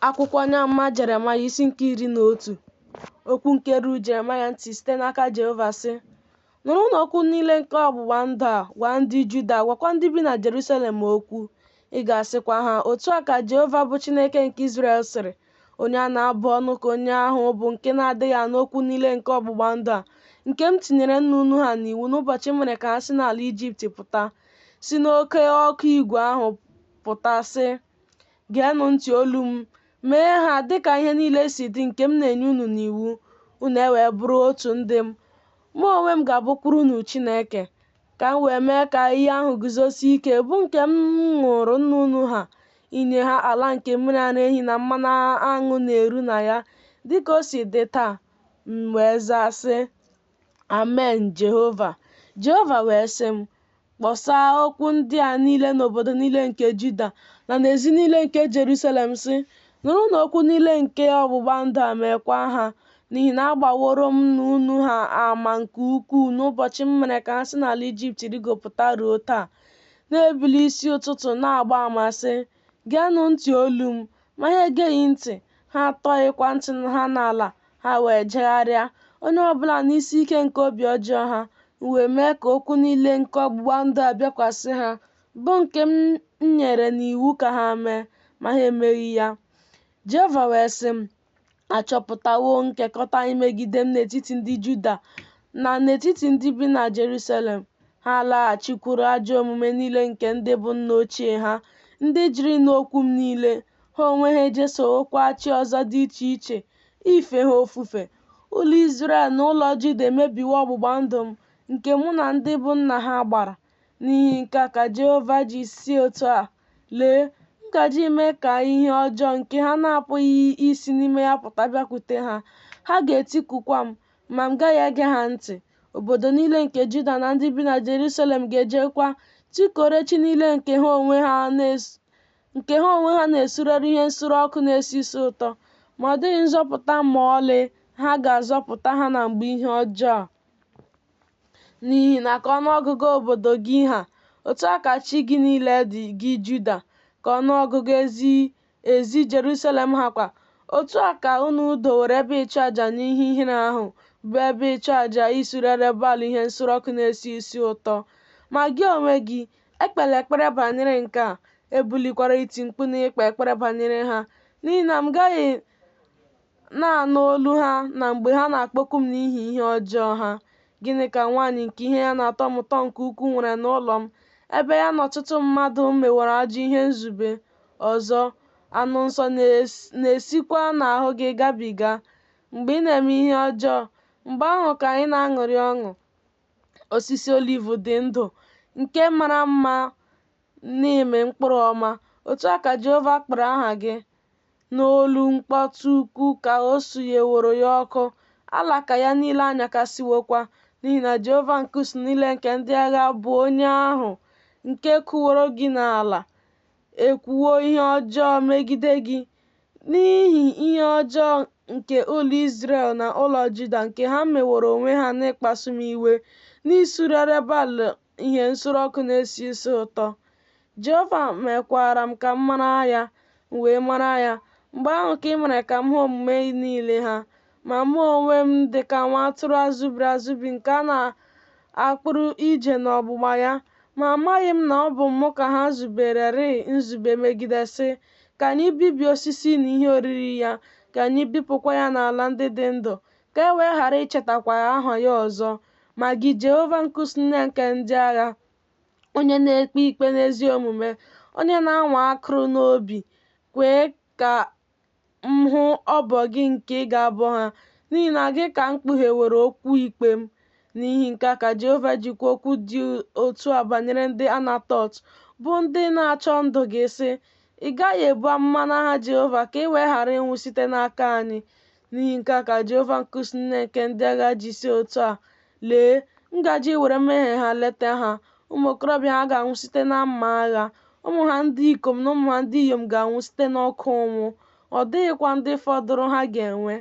Akwụkwọ onye amụma Jeremaya isi nke iri na otu okwu nke ruru Jeremaya ntị site n'aka Jehova sị nụrụnụ okwu niile nke ọgbụgba ndụ a gwa ndị Juda gwakwa ndị bi na Jerusalem okwu ị ga-asịkwa ha otu a ka Jehova bụ Chineke nke Izrel sịrị onye a na-abụ ọnụ ka onye ahụ bụ nke na-adịghị anụ okwu niile nke ọgbụgba ndụ a nke m tinyere nna unu ha n'iwu n'ụbọchị m mere ka ha si n'ala Ijipt pụta si n'oke ọkụ igwe ahụ pụta sị Geenụ ntị olu m, mee ha dị ka ihe niile si dị nke m na-enye unu n'iwu, unu e wee bụrụ otu ndị m. Mụ onwe m ga-abụkwuru unu Chineke, ka m wee mee ka iyi ahụ guzosie ike bụ nke m ṅụụrụ nna unu ha, inye ha ala nke mmiri ara ehi na mmanụ aṅụ na-eru na ya, dị ka o si dị taa. M wee zaa sị. Amen, Jehova. Jehova wee sị m, Kpọsaa okwu ndị a niile n'obodo niile nke Juda na n'ezi niile nke Jerusalem, sị, Nụrụnụ okwu niile nke ọgbụgba ndụ a meekwa ha, n'ihi na agbaworo m nna unu ha ama nke ukwuu n'ụbọchị m mere ka ha si n'ala Ijipt rịgopụta ruo taa. Na-ebili isi ụtụtụ na-agba ama sị, Geenụ ntị olu m, ma ha egeghị ntị, ha atọghịkwa ntị ha n'ala, ha wee jegharịa, onye ọ bụla n'isi ike nke obi ọjọọ ha, m wee mee ka okwu niile nke ọgbụgba ndụ a bịakwasị ha, bụ nke m nyere n'iwu ka ha mee, ma ha emeghị ya. Jehova wee sị m, achọpụtawo nkekọta imegide m n'etiti ndị Juda na n'etiti ndị bi na Jerusalem. Ha alaghachikwuru ajọ omume niile nke ndị bụ nna ochie ha, ndị jụrụ ịnụ okwu m niile. Ha onwe ha ejesowokwa chi ọzọ dị iche iche ife ha ofufe. Ụlọ Izrel na ụlọ Juda emebiwo ọgbụgba ndụ m, nke mụ na ndị bụ nna ha gbara. N'ihi nke a ka Jehova ji sị otu a, Lee, m gaje ime ka ihe ọjọọ nke ha na-apụghị isi n'ime ya pụta bịakwute ha, ha ga-etikukwa m, ma m gaghị ege ha ntị. Obodo niile nke Juda na ndị bi na Jerusalem ga-ejekwa tikuoro chi niile nke ha onwe ha na-esurere ihe nsure ọkụ na-esi isi ụtọ, ma ọ dịghị nzọpụta ma ọlị ha ga-azọpụta ha na mgbe ihe ọjọọ a. N'ihi na ka ọnụọgụgụ obodo gị ha, otu a ka chi gị niile dị, gị Juda, ka ọnụọgụgụ ezi ezi Jerusalem ha kwa. Otu a ka unu dowere ebe ịchụ aja n'ihe ihere ahụ, bụ ebe ịchụ aja isurere Baal ihe nsure ọkụ na-esi isi ụtọ. Ma gị onwe gị, ekpela ekpere banyere nke a, ebulikwala iti mkpu na ikpe ekpere banyere ha, n'ihi na m gaghị na-anụ olu ha na mgbe ha na-akpọku m n'ihi ihe ọjọọ ha. Gịnị ka nwaanyị nke ihe ya na-atọ m ụtọ nke ukwu nwere n'ụlọ m, ebe ya na ọtụtụ mmadụ meworo ajọ ihe nzube? Ọzọ, anụ nsọ na-esikwa n'ahụ gị gabiga. Mgbe ị na-eme ihe ọjọọ, mgbe ahụ ka anyị na-aṅụrị ọṅụ. Osisi oliv dị ndụ, nke mara mma n'ime mkpụrụ ọma, otu a ka Jehova kpọrọ aha gị. N'olu mkpọtụ ukwu ka o sunyeworo ya ọkụ, alaka ya niile anyakasịwokwa, n'ihi na Jehova nke usuu niile nke ndị agha bụ onye ahụ nke kụworo gị n'ala ekwuwo ihe ọjọọ megide gị, n'ihi ihe ọjọọ nke ụlọ Izrel na ụlọ Juda nke ha meworo onwe ha n'ịkpasu m iwe, n'isurere Baal ihe nsure ọkụ na-esi isi ụtọ. Jehova mekwara m ka m mara ya, m wee mara ya. Mgbe ahụ ka ị mere ka m hụ omume niile ha. Ma mụ onwe m dị ka nwa atụrụ azụbiri azụbi nke a na-akpụrụ ije n'ọgbụgba ya. Ma amaghị m na ọ bụ mụ ka ha zubererịị nzube megide, sị, Ka anyị bibie osisi na ihe oriri ya, ka anyị bipụkwa ya n'ala ndị dị ndụ, ka e wee ghara ichetakwa aha ya ọzọ. Ma gị, Jehova nke usuu niile nke ndị agha, onye na-ekpe ikpe n'ezi omume, onye na-anwa akụrụ na obi, kwee ka m hụ ọbọ gị nke ị ga-abọ ha, n'ihi na gị ka m kpugheworo okwu ikpe m. N'ihi nke a ka Jehova ji kwuo okwu dị otu a banyere ndị Anatọt, bụ ndị na-achọ ndụ gị, sị, Ị gaghị ebu amụma n'aha Jehova ka i wee ghara ịnwụ site n'aka anyị, N'ihi nke a ka Jehova nke usuu niile nke ndị agha ji sị otu a, Lee, m gaje iwere mmehie ha leta ha, ụmụ okorobịa ha ga-anwụ site na mma agha, ụmụ ha ndị ikom na ụmụ ha ndị inyom ga-anwụ site n'oke ụnwụ, ọ dịghịkwa ndị fọdụrụ ha ga-enwe.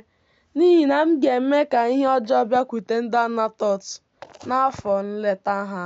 N'ihi na m ga-eme ka ihe ọjọọ bịakwute ndị Anatọt n'afọ nleta ha.